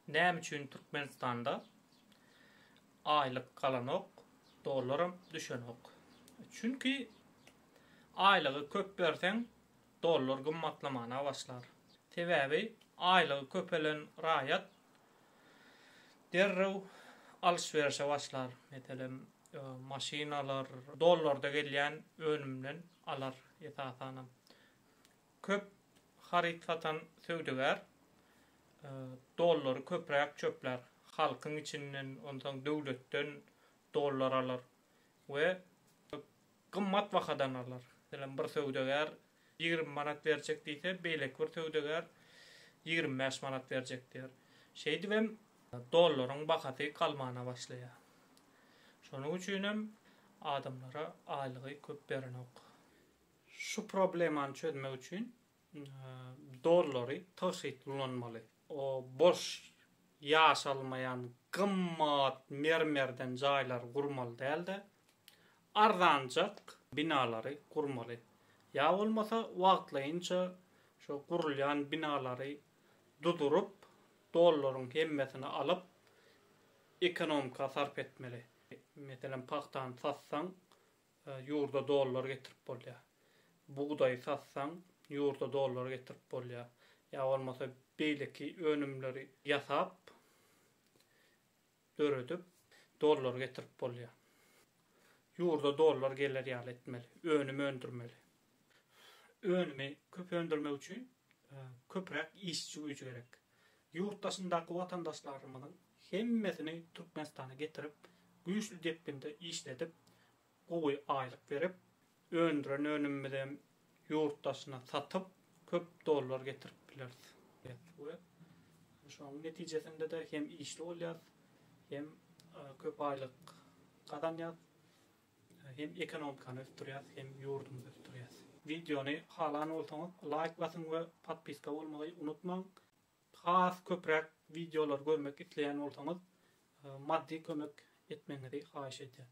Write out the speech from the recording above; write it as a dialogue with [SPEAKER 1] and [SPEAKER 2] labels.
[SPEAKER 1] Näme üçin Türkmenistanda aýlyk galanok, dollaram düşenok? Çünki aýlygy köp berseň, dollar gymmatlamana başlar. Sebäbi aýlygy köpelen raýat derrew alyş-berişe başlar, meselem, maşyn alar, dollarda gelýän önümden alar esasanam. Köp haryt satan söwdagär dollary köpräk çöplär, halkyň içinden, onsoň döwletden dollar alar we gymmat bahadan alar. Meselem, bir söwdagär ýigrimi manat berjek diýse, beýleki bir söwdagär ýigrimi bäş manat berjek diýer. Şeýdibem, dollaryň bahasy galmana başlaýar. Şonuň üçinem adamlara aýlygy köp berenok. Şu problemany çözmek üçin dollary tygşytly ulanmaly. O boş ýaşalmaýan gymmat mermerden jaýlary gurmaly däl-de, arzanjak binalary gurmaly. Ýa bolmasa wagtlaýynça şu gurulýan binalary duduryp, dollaryň hemmesini alyp, ekonomika sarp etmeli. Meselem, pagtany satsaň, Ýurda dollar getirip bolýar. Bugdaýy satsaň, ýurda dollar getirip bolýar. Ýa bolmasa beýleki önümleri ýasap, döredip, dollar getirip bolýar. Ýurda dollar geler ýaly etmeli. Önüm öndürmeli. Önümi köp öndürmek üçin köpräk işçi güýji gerek. Ýurt daşyndaky watandaşlarymyzyň hemmesini Türkmenistana getirip, güýçli depginde işledip, gowy aýlyk berip, öndüren önümimizem ýurt daşyna satyp, köp dollar getirip bileris. We şonuň netijesinde-de hem işli bolýarys, hem köp aýlyk gazanýarys. Hem ekonomikany ösdürýäs hem ýurdumyzy ösdürýäs. Wideony halan bolsaňyz laýk basyň we podpiska bolmagy unutmaň. Has köpräk wideolar görmek isleýän bolsaňyz maddy kömek etmegiňizi haýyş edýän.